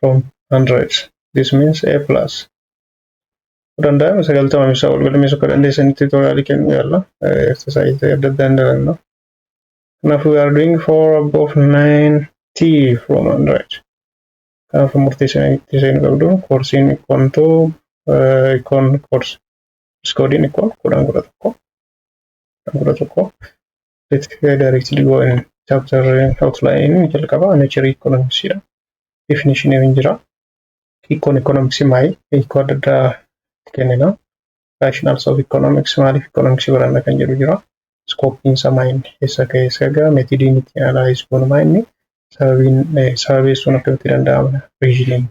from 100 this means a plus danda'ame sagaltama ibsaa wal galmeessu akka dandeessanitti tutoriaalii kennuu yaalla exercise adda addaa hin dalanna kanaaf we are doing 4 above 90 from 100 kanaaf murteessanii itti seenu qabdu koorsiin ikkoon too ikkoon koorsi iskoodiin ikkoon kudhan kudha tokko kudhan kudha tokko Let's go directly go in chapter outline jalqaba nature economics dha. Definition hin jira. Hiikkoon economics maali? Hiikoo adda addaa itti kennina. Rationals of economics maaliif economics baranna kan jedhu jira. Scopiin isaa maal inni eessa akka eessa ga'a metidiin itti analyze goonu maal inni sababiin sababeessuun akkamitti danda'ama reasoning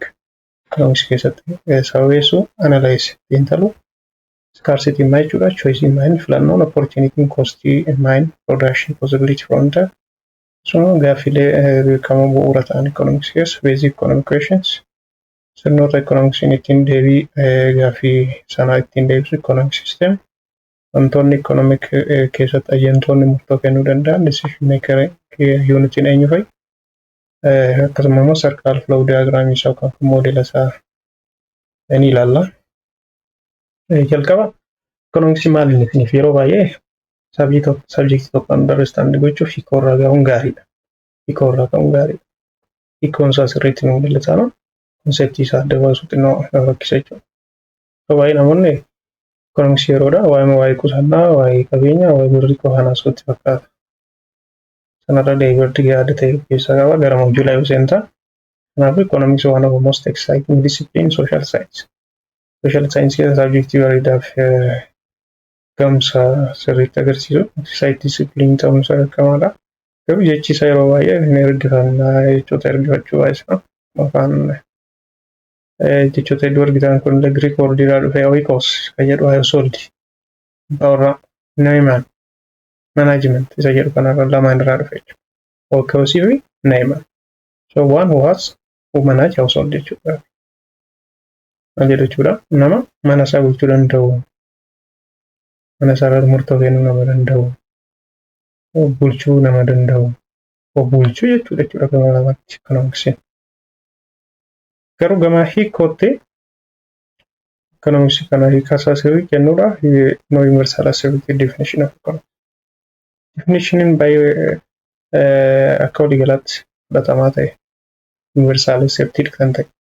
economics keessatti sababeessuu analyze xiinxaluu scarcity immaa jechuudha choice immaa inni filannoon opportunity cost mine production possibility fronta akkasuma gaaffilee beekamoo bu'uura ta'an economics keessa basic economic questions sirnoota economicsiin ittiin deebii gaaffii sanaa ittiin deebisu economic system wantoonni economic keessatti ayyantoonni murtoo kennuu danda'an decision maker unitiin eenyu fa'i akkasuma immoo sarkaal flow diagram isaa kan moodela isaa ni ilaalla. jalqaba ikoonomiksii maal inni isiniif yeroo baay'ee sabii tokko sabjektii tokko andarristaandi gochuuf hiikoo irraa ga'uun gaariidha. Hiikoo irraa ka'uun gaariidha. Hiikoon isaa sirriitti nu mul'ataana konseptii isaa adda baasuu xinnoo nama rakkisa jechuudha. Yeroo baay'ee namoonni ikoonomiksii yeroodha waa'ee waa'ee qusannaa waa'ee qabeenyaa waa'ee birrii qofaan haasa'utti fakkaata. Sanarra daayivardi yaada ta'e of keessaa qaba gara moojulaa yoo seentaa. Kanaafuu ikoonomiksii waan of most exciting discipline social science. Sooshaal saayinsii saabjektii bareedaaf gamsa sirriitti agarsiisu. Saayitii disipiliinii ta'uun isaa beekamaadha. Garuu jechi isaa yeroo baay'ee hin ergifanna jechoota ergifachuu baay'isna. Afaan jechoota hedduu argitan kun illee Giriik wordii irraa dhufee oikos kan jedhu household abbaa warraa Naayimaan management isa jedhu kanarra lamaan irraa dhufe jechuudha. Oikosii fi Naayimaan. So one who has who manage household jechuudha. maal jedhu jechuudha nama mana isaa bulchuu danda'u mana isaa irratti murtoo kennuu nama danda'u bulchuu nama danda'u bulchuu jechuudha jechuudha gama lamaatti kan hongsin garuu gama hiikootti kan hongsi kana hiikasaa sirrii kennuudha no universal asirriitti definition of economics definitioniin baay'ee akka waliigalaatti fudhatamaa ta'e universal accepted kan ta'e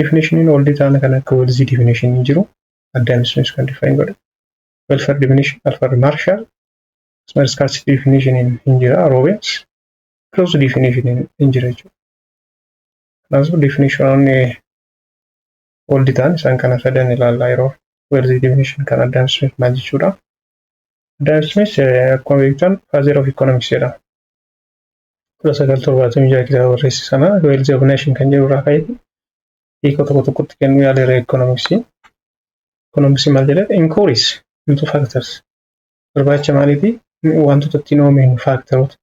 Definitioniin oldi taana kan akka Welzi definitionii jiru addaan sunis kan define godha. Welfare definition, welfare marshal, akkasumas scarcity definitioniin hin jira, Robbins, close definitioniin hin jira jechuudha. Kanaafuu definitionoonni oldi taan isaan kana sadan ilaallaa yeroo Welzi definition kan addaan sunis maal jechuudha. Adam Smith akkuma beektan father of economics jedhama. kudha sagal torbaatamii jaha kitaaba barreesse sana wealth of nation kan jedhu irraa ka'e hiikoo tokko tokkotti kennuu yaaleera ekonomiksii. Ekonomiksii maal jedhee inkuuriis into factors barbaacha maaliifi wantoota ittiin oomishnu faaktaroota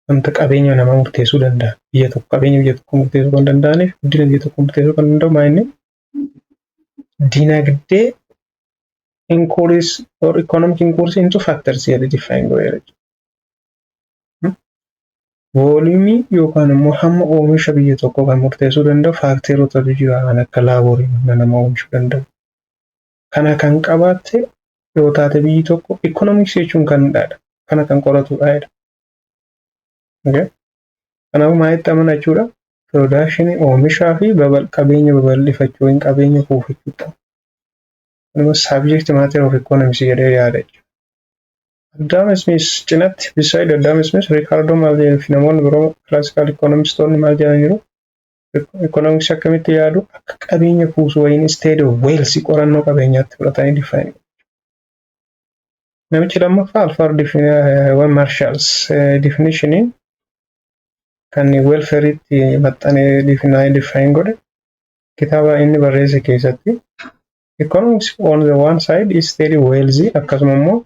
wanta qabeenya namaa murteessuu danda'a. Biyya tokko qabeenya biyya tokko murteessuu kan danda'aniif guddina biyya tokko murteessuu kan danda'u maa inni dinagdee inkuuriis or ekonomik inkuuriis into factors jedhee diffaayin godheera. Vooliyumii yookaan immoo hamma oomisha biyya tokkoo kan murteessuu danda'u faakteerotatu jira kan akka laaborii humna nama oomishuu danda'u. Kana kan qabaatte yoo taate biyyi tokko ikoonomiksii jechuun kan hidhaadha. Kana kan qoratudha jedha. Okay? Kanaafuu maalitti amana jechuudha? Piroodakshinii oomishaa fi babal qabeenya babal'ifachuu yookiin qabeenya kuufachuu ta'a. Kanuma saabjekti maateer of ikoonomiksii jedhee yaada jechuudha. Adam Smith cinatti, beside Adam Smith, Ricardo maal jedhanii fi namoonni biroo classical economistoonni maal jedhaniiru? Economics akkamitti yaadu? Akka qabeenya kuusu wayiin instead of wealth qorannoo qabeenyaatti fudhatanii define Namichi lammaffaa Alfred Definition Marshalls definitioniin kan welfareetti maxxanee define godhe kitaaba inni barreesse keessatti economics on the one side is steady wealthy akkasuma immoo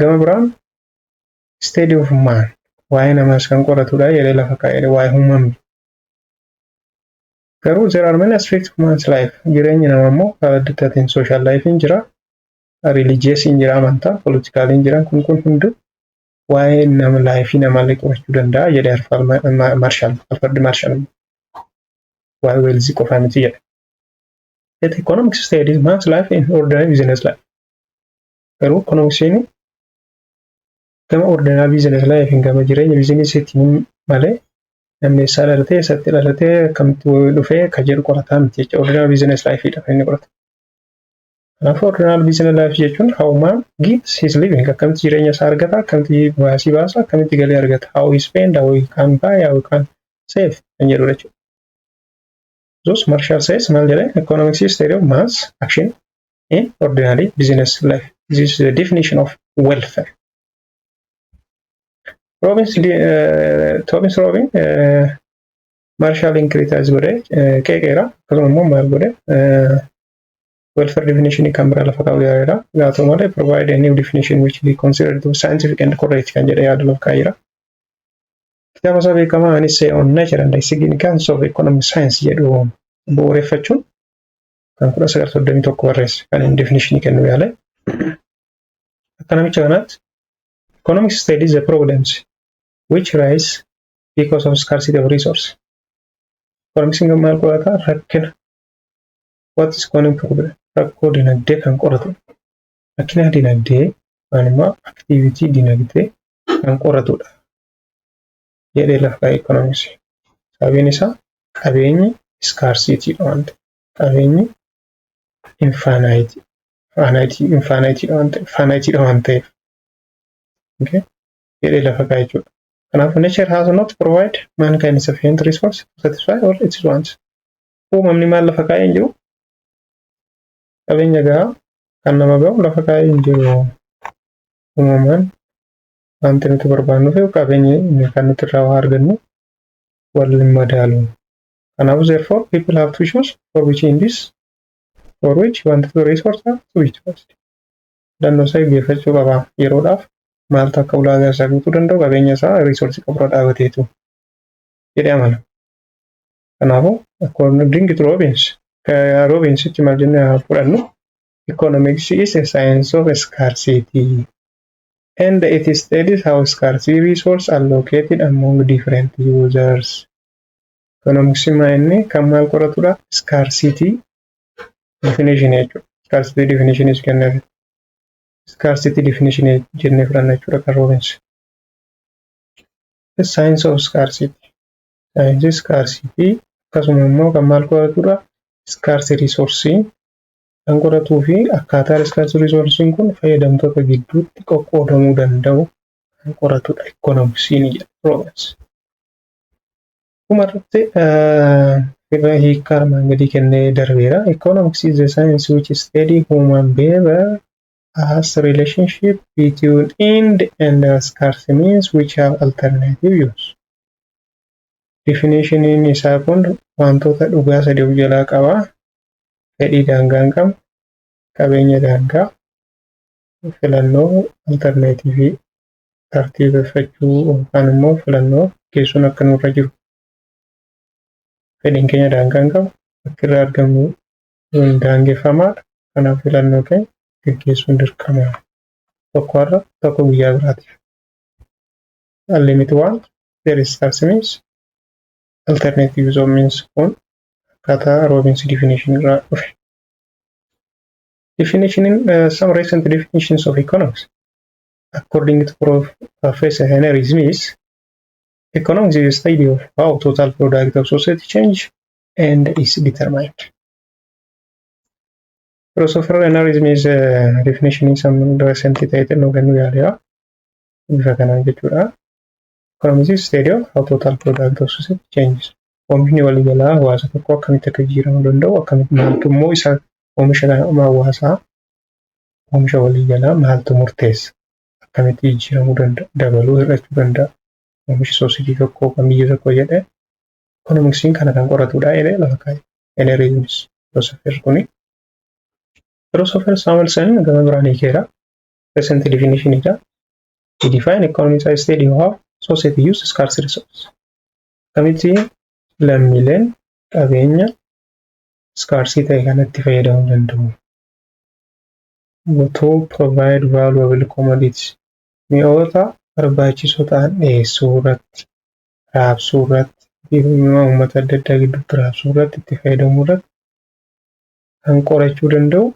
gama biraan steady of man waa'ee namaas kan qoratudha jedhee lafa kaa'edha waa'ee uumamni. Garuu there are many aspects of man's life jireenyi nama immoo karaa adda addaatiin social life hin jira religious hin jira amantaa political hin jiran kun kun hundu waa'ee nama laayifii namaallee qorachuu danda'a jedhe Alfred Marshall Alfred Marshall waa'ee weelzii qofaa miti jedhe. Yet economic state is much life in ordinary business life. Garuu ekonomiksiin gama ordinary business life hin gama jireenya bizinesiitiin malee namni eessaa dhalatee eessatti dhalatee akkamitti dhufee ka jedhu qorataa miti jecha ordinary business life dha kan inni qoratu. Kanaafuu ordinary business life jechuun how man gets his living akkamitti jireenya isaa argata akkamitti baasii baasa akkamitti galii argata how he spend how he can buy how he can save kan jedhudha jechuudha. Thus, Marshall says maal jedhee economics is theory of mass action in ordinary business life. This is the definition of welfare. Robbins, uh, Thomas Robin, uh, Marshall Incritas godhe uh, qeeqeera akkasuma immoo maal godhe uh, welfare definition kan biraa lafa kaa'u yaaleera gaa ta'u malee provide a new definition which be considered to be scientific and correct kan jedhe yaada lafa kaa'eera. Kitaaba isaa beekamaa An Essay on Nature and the Significance of Economic Science jedhu bu'uureffachuun kan 1931 barreesse kan inni definishinii kennuu yaale. Akka namicha kanaatti economic studies the problems which rise because of scarcity of resource. Economicsiin kan maal qorata rakkina what is economic problem rakkoo dinagdee kan qoratu rakkina dinagdee yookaan immoo activity dinagdee kan qoratudha jedhee lafa kaa'e ekonomiisi. Sababiin isaa qabeenyi iskaarsiitiidha waan ta'eef. Qabeenyi infaanaayitii faanaayitii infaanaayitiidha waan ta'eef faanaayitiidha waan ta'eef. Okay? jedhee lafa kaa'e jechuudha. Kanaafuu nature has not provide mankind sufficient resource to satisfy all its wants. Uumamni maal lafa kaa'ee hin jiru? Qabeenya gahaa kan nama gahu lafa kaa'ee hin jiru. Uumamaan wanti nuti barbaannuuf yoo qabeenyi kan nuti irraa waa argannu wal madaalu. Kanaafuu therefore people have to choose for which in this for which wanti to resource have to be chosen. Filannoo isaa eeggeeffachuu qaba. Yeroodhaaf maaltu akka ulaagaa isaa guutuu danda'u qabeenya isaa reesoorsii qaburra dhaabateetu jedhee amana. Kanaafuu according to Robbins Robbinsitti maal jennee fudhannu economics is a science of scarcity. and it studies how scarcity resource allocated among different users. Economics maa inni kan maal qoratudha? Scarcity definition jechuudha. Scarcity definition is kenneef. Scarcity definition jennee fudhanna jechuudha kan Robbins. The science of scarcity. Saayinsii scarcity akkasuma immoo kan maal qoratudha? Scarce resource kan qoratuu fi akkaataa riiskarsi riisoorsiin kun fayyadamtoota gidduutti qoqqoodamuu danda'u kan qoratudha ikkonomiksiin jedha Roobins. Dhumarratti irra hiikkaa armaan gadii kennee darbeera. Economics is a science which study human behavior as relationship between end and scarce means which have alternative use. Definitioniin isaa kun wantoota dhugaa sadii of jalaa qaba. fedhii daangaa hin qabne, qabeenya daangaa, filannoo altarneetiivii tartiibeffachuu yookaan immoo filannoo geessuun akka nurra jiru fedhiin keenya daangaa hin qabu bakki irraa argamnu hin daangeffamaadha. Kanaaf filannoo keenya gaggeessuun dirqama. Tokko har'a tokko guyyaa biraatiif. Unlimited want, there is scarce means. alternative use of means kun akkaataa Robbins definition irraa dhufe. Definition in uh, some recent definitions of economics according to Prof. Professor Henry Smith, economics is a study of how total product of society change and is determined. Philosopher Henry Smith uh, definition in some recent title nu kennuu yaaleera. Bifa kanaan jechuudha. From this study of how total product of society changes. Oomishni waliigalaa hawaasa tokko akkamitti akka jijjiiramuu danda'u akkamitti maaltu immoo isa oomisha kana amma hawaasaa oomisha waliigalaa maaltu murteessa akkamitti jijjiiramuu danda'a dabaluu hir'achuu danda'a oomisha soositii tokko kan biyya tokko jedhee Ekonomiksiin kana kan qoratudha jedhee lafa kaa'e. Henry Yunis filoosofer kuni. Filoosofer Samuelson gama biraan hiikeera. Recent definition dha. to define economic size state you have society use scarce resource akkamitti lammiileen qabeenya scarce ta'e kanatti fayyadamuu danda'u to provide valuable commodities mi'oota barbaachisoo ta'an dhiyeessuu irratti raabsuu irratti uummata adda addaa gidduutti raabsuu irratti itti fayyadamuu irratti kan qorachuu danda'u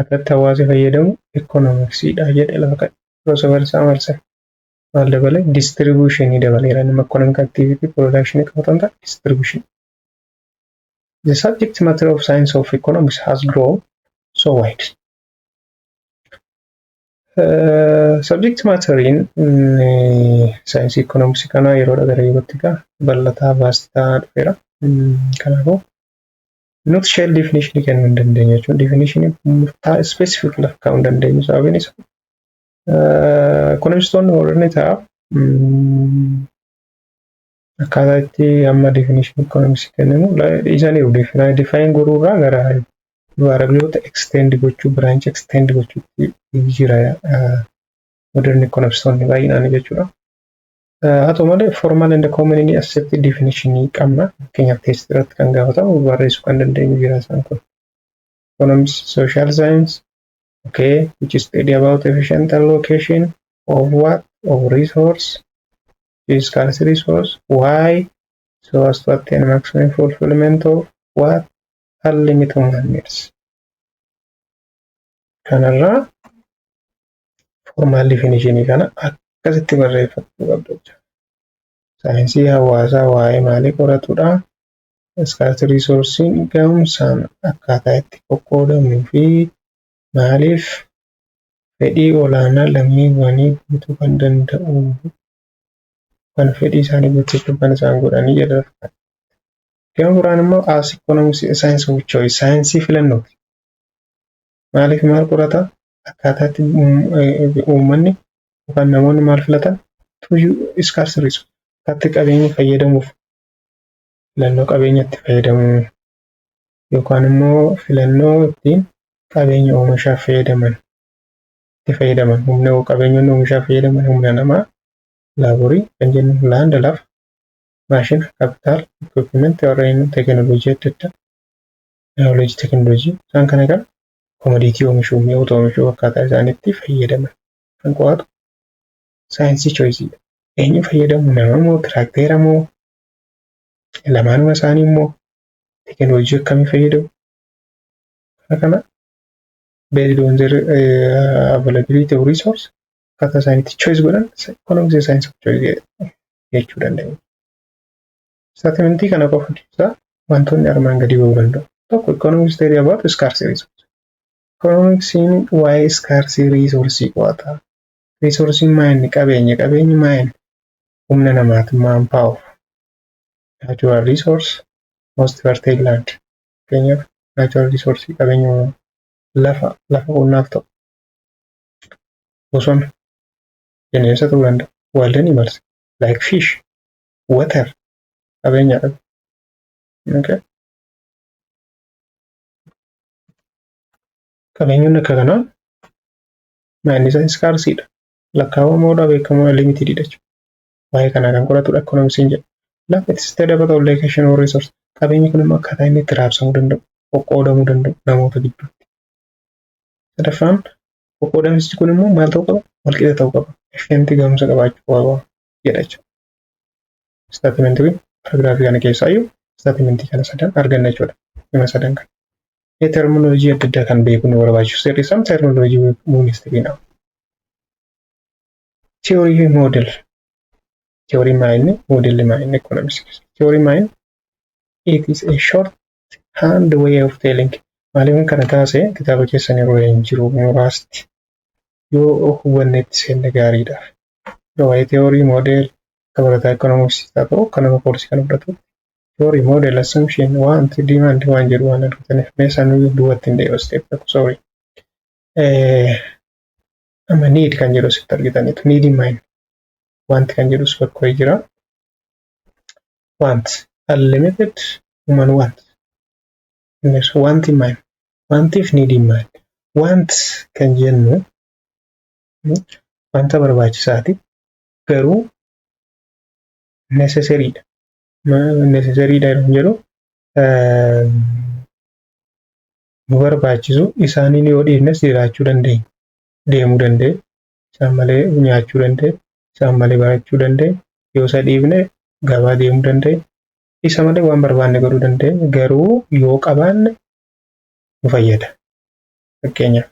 akkaataatti hawaasi fayyadamu ikkonomiksiidha jedhe lafa kan crossover isaa marsan maal dabale distribution dabaleera nama economic activity production qabatan ta'a distribution the subject matter of science of economics has grown so wide uh, subject matter in mm, science economics kana yeroo dhagara yerootti gaa bal'ataa vaastaa dhufeera mm, kanaafuu not shell definition kennuu hin dandeenyu jechuun definition murtaa specific lafa kaa'uu hin dandeenyu sababiin isaa ekonomistoonni warreen ta'a akkaataa itti amma definition economics kenninu dhiisaniiru define godhuu irraa gara variableota extend gochuu branch extend gochuutti jira modern economistoonni baay'inaan jechuudha. Haa ta'u malee formal and commonly accepted definition qabna. Fakkeenyaaf test irratti kan gaafatamu barreessuu kan dandeenyu jira isaan kun. Economics, social science, okay, which study about efficient allocation of what? Of resource, scarce resource, why? So as to attain maximum fulfillment of what? Unlimited human needs. Kanarraa formaal difinishinii kana akkasitti barreeffachuu qabdu jechuudha. Saayinsii hawaasaa waa'ee maalii qoratudha? Iskaarsi riisoorsiin ga'umsaan akkaataa itti qoqqoodamuu fi maaliif fedhii olaanaa lammiiwwanii guutuu kan danda'u kan fedhii isaanii guuttachuuf kan isaan godhanii jedha. Gama biraan immoo as ikoonomiksii saayinsii of choice saayinsii filannooti. maaliif maal qorata akkaataa itti uummanni yookaan namoonni maal filatan tuyyuu iskaarsi riisu akkatti qabeenya fayyadamuuf filannoo qabeenya itti fayyadamuu yookaan immoo filannoo ittiin qabeenya oomishaaf fayyadaman itti fayyadaman humna qabeenyonni oomishaaf fayyadaman humna namaa laaborii kan jennu laanda lafa maashina kaapitaal equipment warreen teekinooloojii adda addaa naawuleejii teekinooloojii isaan kana kan komodiitii oomishuu mi'oota oomishuu akkaataa isaanitti fayyadaman kan qo'atu saayinsii chooyisiidha. Eenyu fayyadamu nama moo tiraakteera moo lamaanuma isaanii immoo teekinooloojii akkamii fayyadamu kana kana based on their uh, availability of resource akkaataa isaanitti choice godhan economics saayinsii choice jechuu danda'u. Istaatimentii kana qofa keessaa wantoonni armaan gadii ba'uu danda'u. Tokko economics theory about scarce resource. Economics'n waa'ee scarce resource qo'ata. Resource'n maa inni qabeenya qabeenyi maa inni humna namaati maan power. Natural resource most fertile land. Fakkeenyaaf natural resource qabeenya uumamaa lafa lafa qonnaaf ta'u bosona bineensa ta'uu danda'a waldanii marse like fish water qabeenya dhabu. Okay. Qabeenyonni akka kanaa maayinni isaa iskaarsiidha. Lakkaa'amaadha beekamoo limitididha jechuudha. Waa'ee kanaa kan qoratudha ekonomisiin jedha. Lafa itti sitee dabata ol location or resource. Qabeenyi kun immoo akkaataa inni itti raabsamuu danda'u, qoqqoodamuu danda'u namoota gidduutti. Sadaffaan qoqqoodamsichi kun immoo maal ta'uu qaba? Walqixa ta'uu qaba. Efficientii gahumsa qabaachuu qaba. jedha jechuudha. Istaatimentii kun paraagiraafii kana keessaa iyyuu istaatimentii kana sadan arganna jechuudha. Hima sadan kana. Ee terminolojii adda addaa kan beekuu nu barbaachisu seerri isaan terminolojii muumistiriin dha. Theory fi model. Theory maayinni modelli maayinni economics. Theory maayin it is a short hand way of telling. Maaliif kana taase kitaaba keessan irra hin jiru muraasti. Yoo hubannetti seenne gaariidhaaf. waa'ee theory model dabalataa economics haa ta'u kan nama koorsii kana fudhatu theory model assumption want demand waan jedhu waan argataniif mee isaan duubatti hin deebisu step tokko sorry amma need kan jedhu asitti argitaniitu need in mind want kan jedhu si bakka wayii jira want unlimited human want innis want in mind wantiif need in mind want kan jennu wanta barbaachisaati garuu necessariidha necessariidha yeroo jedhu nu barbaachisu isaaniin yoo dhiifnes jiraachuu dandeenya deemuu danda'e isaan malee nyaachuu danda'e isaan malee barachuu danda'e yoo isa dhiifne gabaa deemuu danda'e isa malee waan barbaanne godhuu danda'e garuu yoo qabaanne nu fayyada fakkeenyaaf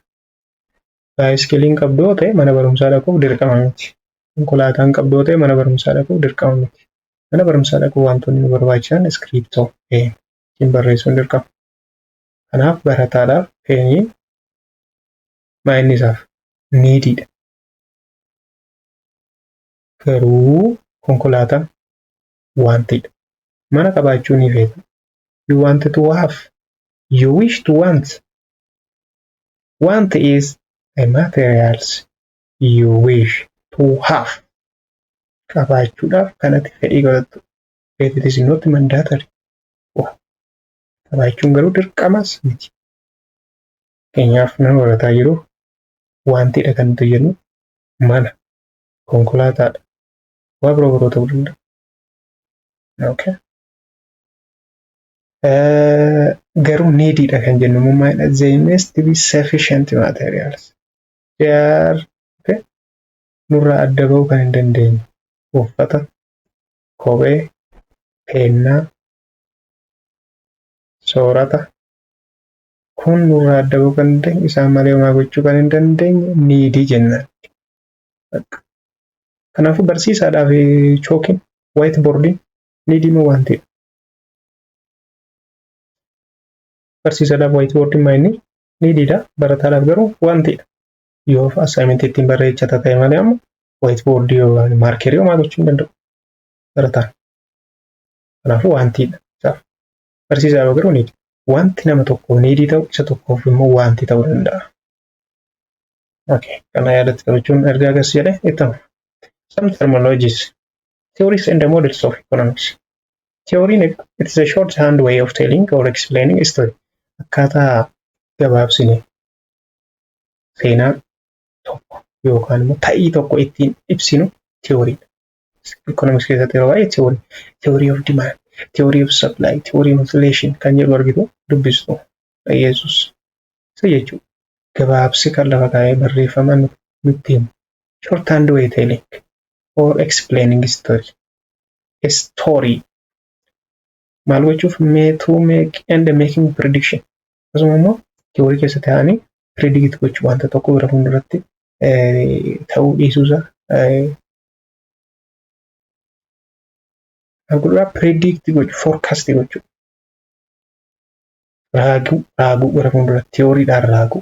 Baayiskiliin qabdu yoo ta'e mana barumsaa dhaquuf dirqama miti. Konkolaataan qabdu yoo ta'e mana barumsaa dhaquuf dirqama miti. Mana barumsaa dhaquuf wantoonni nu barbaachisan iskiriiptoo, peen ittiin barreessuun dirqama. Kanaaf barataadhaaf peeniin maayinni isaaf niidiidha. Garuu konkolaataan waantidha. Mana qabaachuu ni feeta. You wanted to have. You wish to want. Want is the materials you wish to have. Qabaachuudhaaf kan ati fedhii godhattu. But it is not mandatory. Qabaachuun garuu dirqamas miti. Keenyaaf nama barataa jiru wantiidha kan nuti jennu mana, konkolaataadha, waa biroo biroo ta'uu danda'a. Okay. garuu neediidha kan jennu mummaadha they must be sufficient materials they are okay. nurraa adda ba'uu kan hin dandeenye uffata kophee peennaa soorata kun nurraa adda ba'uu kan dandeenye isaan malee homaa gochuu kan hin dandeenye needii jennaan kanaafuu barsiisaadhaaf chookiin waayit boordiin needii moo waantiidha barsiisadhaaf wayitii wardiin maayinni ni diida barataadhaaf garuu wantiidha yoo assaayimentii ittiin barreechata ta'e malee amma wayitii boordii yookaan maarkeerii homaa gochuu hin danda'u barataan kanaafuu wantiidha isaaf barsiisaadhaaf garuu ni wanti nama tokkoof ni dii ta'u isa tokkoof immoo wanti ta'uu danda'a. Okay, kana yaadatti qabachuun erga agarsiisa jedhe itti hafu. Some terminologies Theories and Models of Economics. Theoriin it is a short hand way of telling or explaining history. Akkaataa gabaabsine seenaa tokko yookaan immoo ta'ii tokko ittiin ibsinu theoriidha. Economics keessatti yeroo baay'ee theory, theory of demand, theory of supply, theory of inflation kan jedhu argitu dubbistu dhaggeessus. Isa jechuudha. Gabaabsi kan lafa kaa'ee barreeffamaan nutti himu. Short hand way telling. for explaining story story maal gochuuf mee to make and making prediction akkasuma immoo tiyoorii keessa ta'anii predict gochuu wanta tokko gara fuulduratti ta'uu dhiisuusa Gurraa predict gochuu forecast gochuu raaguu raaguu gara fuuldura tiyooriidhaan raaguu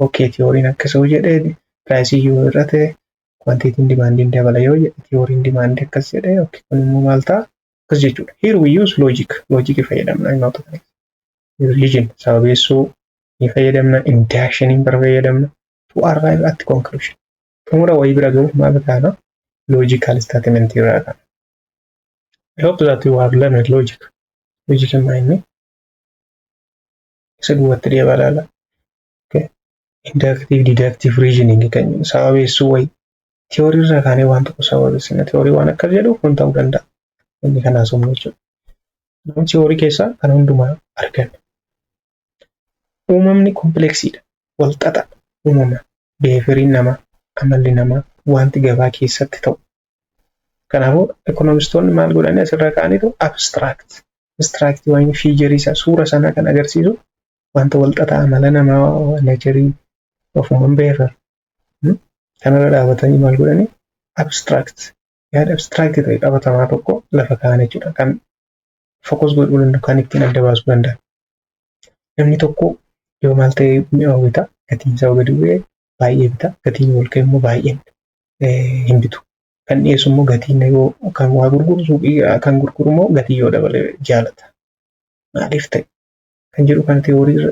ookee tiyooriin akkasuu jedhee piraayisii yoo hir'ate kwantiitiin dimaandiin dabala yoo jedhe tiyooriin dimaandii akkas jedhee ookee kun immoo maal ta'a akkas jechuudha here we use logic logic fayyadamna himoota kana religion sababeessuu ni fayyadamna inductioniin bara fayyadamna to arrive at conclusion xumura wayii bira gahuuf maal taana logical statement irraa taana I hope that you have learned logic. Logic in my name. isa duwwatti deebaa ilaala. Inductive deductive reasoning kan jedhu sababeessuu wayi tiyoorii irraa kaanee waan tokko sababeessina tiyoorii waan akkas jedhu kun ta'uu danda'a. Inni kan haasofnu jechuudha. Nama tiyoorii keessaa kan hundumaa arganna. Uumamni kompleksiidha. Wal xaxa uumama. Beefiriin namaa, amalli namaa, wanti gabaa keessatti ta'u Kanaafuu ekonomistoonni maal godhanii asirra kaa'aniitu abstract abstract waan fiijarii isaa suura sanaa kan agarsiisu wanta walxaxaa amala namaa neecharii ofumaan beekan kanarra dhaabatanii maal godhanii abstract yaada abstract ta'e qabatamaa tokko lafa kaa'an jechuudha kan fokus godhuu danda'u kan ittiin adda baasuu danda'a. Namni tokko yoo maal ta'e mi'aawu bita gatiin isaa gadi bu'ee baay'ee bita gatiin ol ka'e immoo baay'ee bita. hin bitu. Kan dhiyeessu immoo gatiin yoo kan waa gurguru suuqii kan gurguru immoo gatii yoo dabale jaalata. Maaliif ta'e kan jedhu kan teewoorii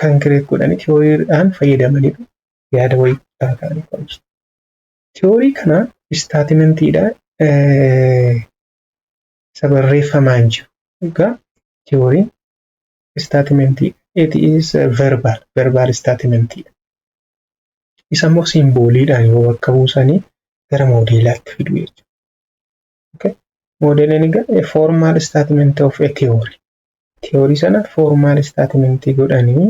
kan kireet godhanii tewooriidhaan fayyadamanii yaada wayii guddaa ta'anii qo'atu. Teewoorii kana istaatimantiidha isa barreeffamaan jiru. Egaa teewooriin istaatimantii it is verbal verbal istaatimantiidha. Isa immoo siimbooliidhaan yoo bakka buusanii gara moodeelaatti fidu jechuudha. Okay? Moodeeliin egaa formal statement of a theory. Theory sana formal statement godhanii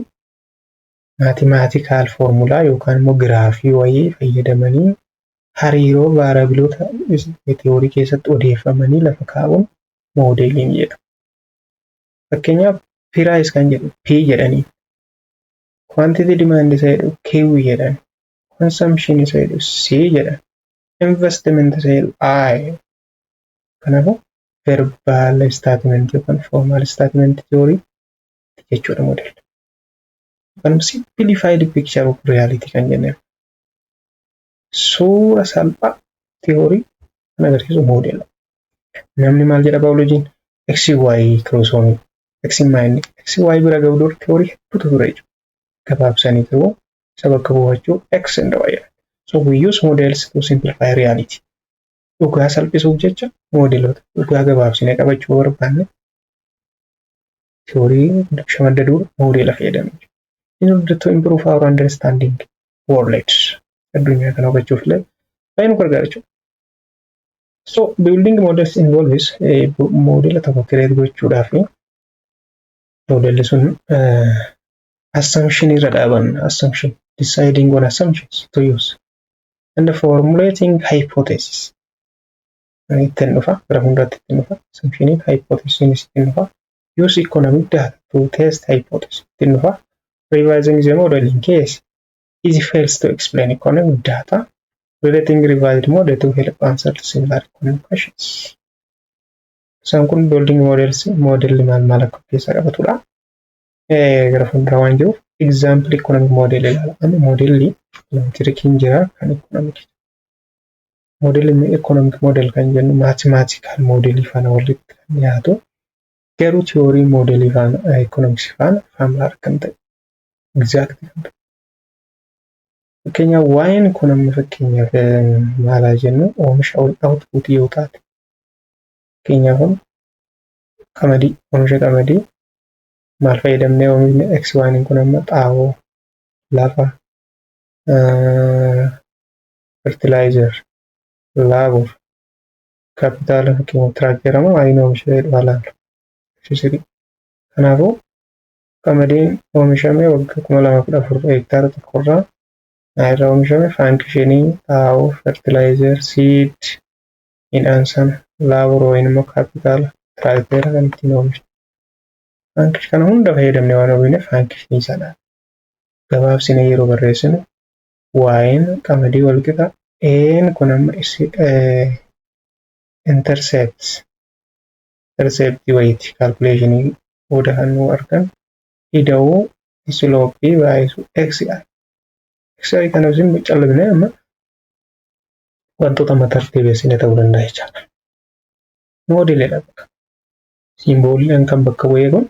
maatimaatikaal foormulaa yookaan immoo giraafii wayii fayyadamanii hariiroo vaarabiloota theory keessatti odeeffamanii lafa kaa'uun moodeeliin jedhama. Fakkeenyaaf piraayis kan jedhu p jedhanii Quantity demand isa jedhu Q jedhan. Consumption isa jedhu C jedhan. Investment isa jedhu I. Kanaafuu verbal statement yookaan formal statement theory jechuudha model. Yookaan simplified picture of reality kan jenneef. Suura salphaa tiyoorii kan agarsiisu moodeela. Namni maal jedha baayolojiin? XY kiroosoomii, XY inni, XY bira ga'u dura tiyoorii hedduutu ture jechuudha. Gabaabsanii garuu isa bakka buufachuu X and Y jedhan. So we use models to simplify reality. Dhugaa salphisuuf jecha moodeloota dhugaa gabaabsinee qabachuu barbaanne Theory dubsha madda duur moodela fayyadamne. In order to improve our understanding world addunyaa kana hubachuuf illee baay'ee nu gargaara jechuudha. So building models involves moodela tokko kireet gochuudhaaf moodeli sun assumption irra dhaabanna assumption deciding on assumptions to use and formulating hypothesis ittiin dhufa gara fuulduraatti ittiin dhufa assumptioniin hypothesisiinis ittiin dhufa use economic data to test hypothesis ittiin dhufa revising the model in case it fails to explain economic data relating revised model to help answer similar economic questions isaan kun building models modelli maal maal akka keessaa qabatudha gara fuulduraa waan jiruuf example economic model ilaala amma modelli elektirikiin jira kan economic moodelii ekonomik moodel kan jennu maatimaatikaal moodelii faana walitti kan dhiyaatu garuu tiyoorii moodelii faana ekonomiksii faana faamilaa kan ta'e egzaakti kan ta'e. Fakkeenyaaf waa'een kun amma fakkeenyaaf maalaa jennu oomisha ol outpuutii yoo taate fakkeenyaaf qamadii oomisha qamadii maal fayyadamnee oomishni x waaniin kun amma xaa'oo lafa fertilizer, labor, capital fakkeenyaaf tiraakteera moo ayiin oomisha jedhu haa laalu. Fisirii. Kanaafuu qamadiin oomishame waggaa kuma lama kudha afur hektaara tokkorraa irra oomishame faankishinii xaa'oo, fertilizer, seed, midhaan sana, labor wayin immoo kaapitaala, tiraakteera kan ittiin oomishne. Faankish kana hunda fayyadamne waan oomishne faankishinii sana gabaabsine yeroo barreessinu y'n qamadii wal qixa ee'n kun amma issi intercepts intercept wayiiti calculation booda kan nu argan ida'uu slope baayisu xi xi kana isin callifne amma wantoota matar deebessine ta'uu danda'a jechaadha. Moodeelidha bakka. Siimbooliin kan bakka bu'ee kun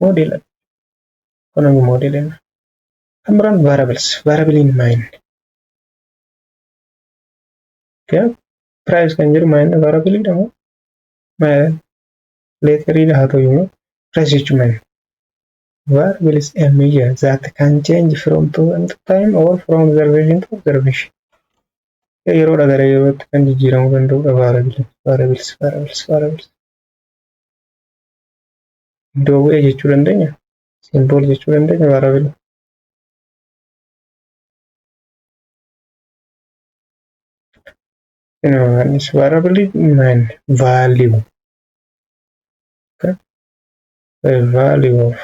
moodeelidha. Kun ammoo moodeelidha. Kan biraan variables, variable in mind. Okay. Price kan jedhu mind variable dha moo? Leeterii dha haa ta'u immoo price jechuun mind. Variable is a measure that can change from time to time or from observation to observation. Yeroo dha gara yerootti kan jijjiiramuu danda'udha variable. Variables, variables, variables. Iddoo bu'ee jechuu dandeenya. Simbool jechuu dandeenya maarabila. Inumaanis maarabili naan value. The value of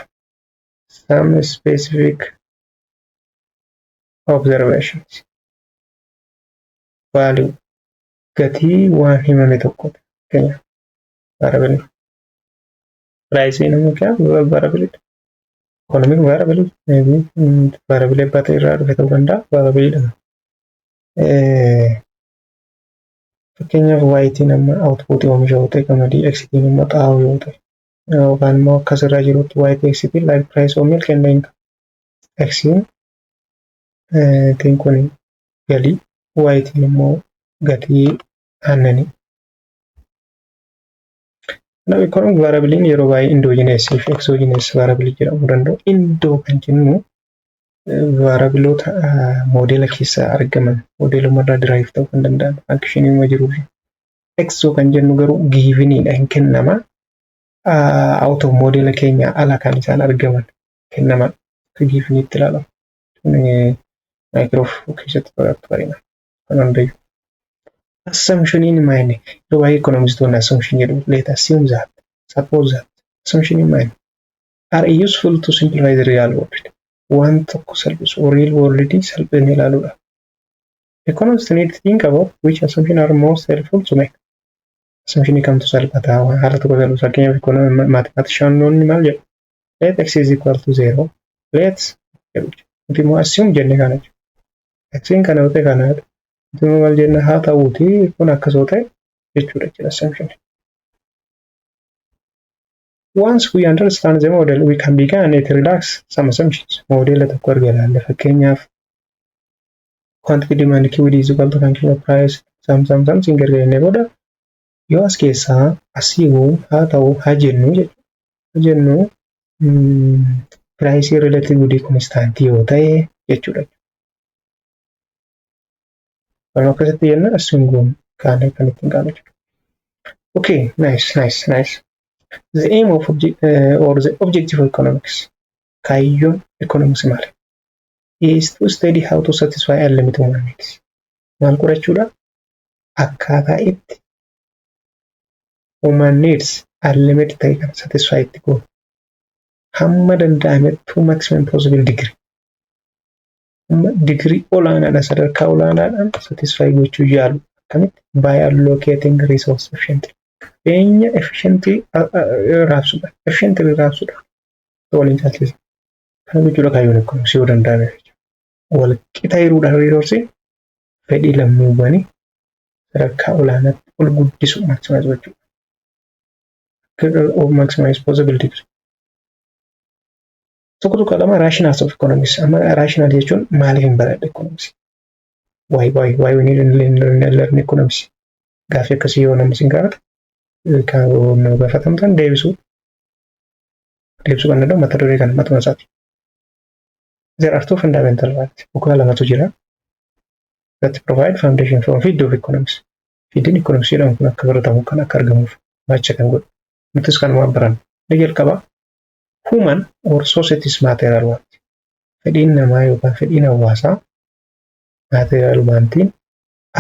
some specific observations. Value gatii waan himame tokko fakkeenyaaf maarabili. price in mu kya variability economic variability maybe variable ebba ta'e irraa dhufe ta'uu danda'a variable dha fakkeenyaaf waayitiin amma output oomisha yoo ta'e qamadii eksitiin immoo xaa'oo yoo ta'e yookaan immoo akkas irraa jirutti waayitii eksitiin like price of milk and income eksiin tiin kun galii waayitiin immoo gatii aannanii Kanaaf economic variable yeroo baay'ee endogenous fi exogenous variable jedhamuu danda'u. Indo kan jennu vaarabiloota moodeela keessaa argaman moodeelumarraa derive ta'uu kan danda'an fankishiniima jirurra. Exo kan jennu garuu giiviniidha hin kennama. Auto moodeela keenya ala kan isaan argaman kennaman akka giiviniitti ilaalamu. Maayikiroof keessatti barattu bareena. kan hundayu. Assumption in mind yeroo baay'ee ekonomistoonni assumption jedhu let assume that suppose that assumption in mind are useful to simplify the real world waan tokko salphisu real world salphina ilaaluudha. Economists need to think about which assumption are most helpful to make. Assumption kamtu salphataa waan haala tokko salphisu fakkeenyaaf ekonomi maatimaatishanoonni maal jedhu let x is equal to zero let jedhu nuti immoo assume jenne kana jedhu. Achiin kana wixee kana ituma maal jenna haa ta'uuti kun akkas yoo ta'e jechuudha jechuudha assumption. Once we understand the model we can begin it relax some assumptions. Moodela tokko erga ilaalle fakkeenyaaf quantity demand QD is equal to function of price some some something erga jennee booda Yoo as keessaa as hiiku haa ta'u haa jennu jechuudha. Haa jennu piraayisii rileetii gudii konistaantii yoo ta'e jechuudha. Waan akkasitti jenna assuun goon kaanee kan ittiin kaanu jechuudha. Okay, nice, nice, nice. The aim of obje uh, or the objective of economics. Kaayyoon economics maali? Is to study how to satisfy unlimited human needs. Maal qorachuudha? akkaataa itti human needs unlimited ta'e kan satisfy itti goonu hamma danda'amettuu maximum possible degree hamma digirii olaanaadha sadarkaa olaanaadhaan satisfy gochuu yaalu akkamitti by allocating resource efficiently qabeenya efficiently raabsudha efficiently raabsudha waliin caalchisa kana jechuudha kaayyoon eegumsi yoo danda'ame jechuudha wal qixa hiruudhaan riisoorsiin fedhii lammiiwwanii sadarkaa olaanaatti ol guddisu maximize gochuu. Of maximize possible degree. Tokko tokko lama rationals of economics. Amma rational jechuun maaliif hin baradhe economics? Why why why we need to learn economics? Gaaffii akkasii yoo namni isin gaafate kan nu gaafatamtan deebisuu deebisuu kan danda'u mata duree kana matuma isaati. there are two fundamental rights bu'uura lamatu jira that provide foundation for field of economics fiildiin economics jedhamu kun akka baratamu kan akka argamuuf baacha kan godhu nutis kanuma baranna ni jalqaba human or societies material want fedhiin namaa yookaan fedhiin hawaasaa material wantiin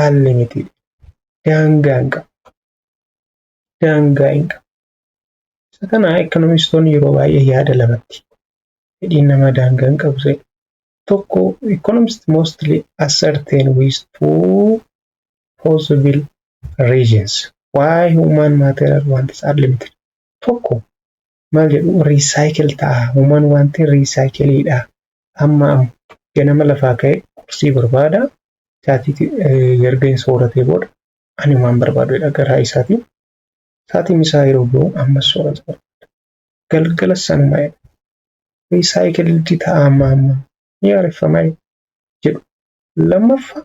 unlimited daangaa hin qabu daangaa hin qabu. Isa kana ekonomistoonni yeroo baay'ee yaada lamatti fedhiin namaa daangaa hin qabu jedhu. Tokko economist mostly ascertain with two possible reasons why human material wants are limited. Tokko maal jedhu recycle ta'a human wanti recycle dha amma amma ganama lafaa ka'e qursii barbaada chaatii erga hin sooratee booda Ani waan barbaadudha garaa isaatiin saatiin isaa yeroo ga'u ammas soorata barbaada. Galgala sanuma jedha. Wee saayikiliddi ta'a amma amma ni haareffama jedhu. Lammaffa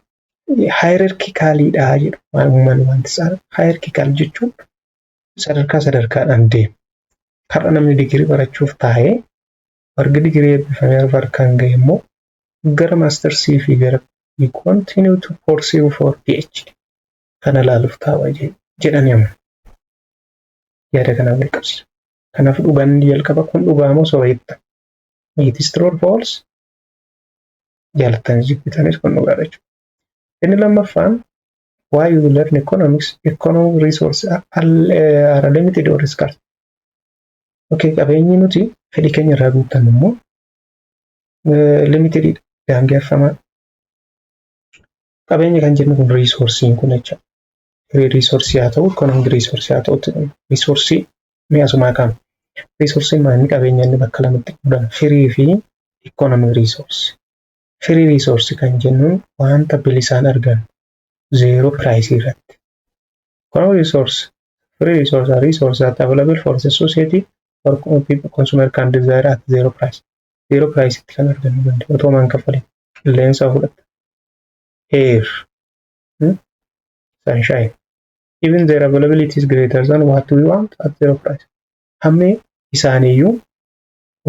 haayirarkikaaliidha jedhu. Waan uumaan wanti isaa haayirkikaal jechuun sadarkaa sadarkaadhaan deema. Har'a namni digirii barachuuf taa'ee marga digirii eebbifamee arfa harkaan ga'e immoo gara maastarsii fi gara we continue to pursue for PhD kana ilaaluuf taa'aa jedhanii amma yaada kanaan wal qabsiisu. Kanaaf dhugaan inni jalqaba kun dhugaa moo soba jettan? It is true or false? Jaallattanis jibbitanis kun dhugaadha jechuudha. Inni lammaffaan why you learn economics, economic resources are, are limited or scarce. Okay, qabeenyi nuti fedhii keenya irraa guuttannu immoo limited daangeffamaa. Qabeenya kan jennu kun riisoorsiin kun jecha firii riisoorsii haa ta'u ikoonoomik riisoorsii haa ta'utti kun riisoorsii mi'a sumaa qaama. Riisoorsiin maanni qabeenya inni bakka lamatti qoodama firii fi ikoonoomik riisoorsii. Firii riisoorsii kan jennuun wanta bilisaan argannu zeeroo piraayisii irratti. Economic resource free resource are resource that available for the society or consumer can desire at zero price. Zero price itti kan argachuu danda'u otoo maan kaffalin qilleensa fudhata. Air, hmm? sunshine. Even their availability is greater than what we want at zero price. Hammi isaaniiyyuu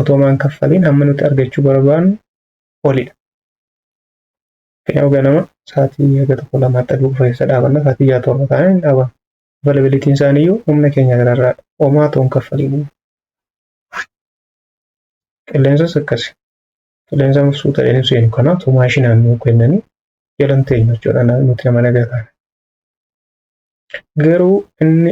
otoo maan kaffalin hamma nuti argachuu barbaannu olidha. Yoo ganama sa'aatii haga tokko lama hatta dhufu keessa dhaabanna sa'aatii ja'a torba taanee hin dhaabannu. Availability isaanii iyyuu humna keenya gararraadha. Homaa toon kaffaliin. Qilleensas akkasi. Qilleensa mufsuu ta'een hin seenu kanaa tu maashinaan nuu kennanii jalan teenyu jechuudha nuti nama nagaa taana. Garuu inni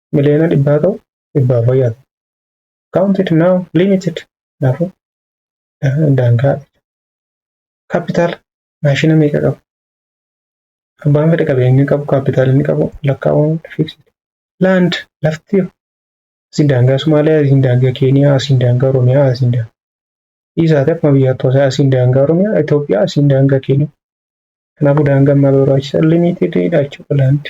miliyoona dhibbaa ta'u dhibbaaf wayyaa ta'u. Counted now limited kanaafuu daangaa kaapitaala maashina meeqa qabu abbaan fedhe qabeenyi qabu kaapitaala inni qabu lakkaa'uun fiiksiti. Laand lafti asiin daangaa Somaaliyaa asiin daangaa Keeniyaa asiin daangaa Oromiyaa asiin daangaa dhiisaati akkuma biyyaatti hosaa asiin daangaa Oromiyaa Itoophiyaa asiin daangaa Keeniyaa. Kanaafuu daangaan maal barbaachisa limiitididha jechuudha laandi.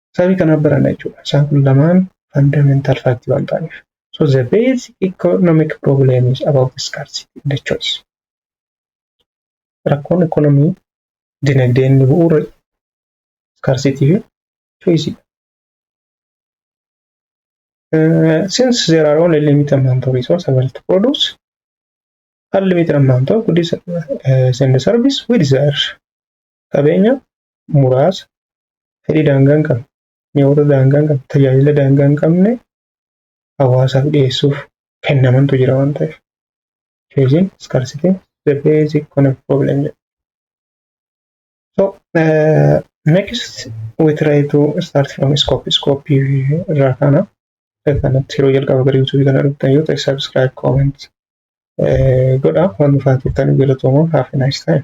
Sabii kanaaf barana jechuudha. Isaan kun lamaan fundamental fact waan ta'aniif. So the basic economic problem is about scarcity and choice. Rakkoon ekonomii dinagdee inni bu'uura scarcity fi choice. Uh, since there are only limited amount of resource available to produce, unlimited amount of goods uh, and service, we desire qabeenya muraasa fedhii daangaa hin qabne, mi'oota daangaa hin qabne, tajaajila daangaa hin qabne hawaasaaf dhiyeessuuf kennamantu jira waan ta'eef. Choosing scarcity the basic economic problem jedha. So uh, next we try to start from scope. Scope irraa kana kanatti yeroo jalqaba gara YouTube kana dhuftan yoo ta'e subscribe comment godha waan dhufaa turtan galatooma have a nice time.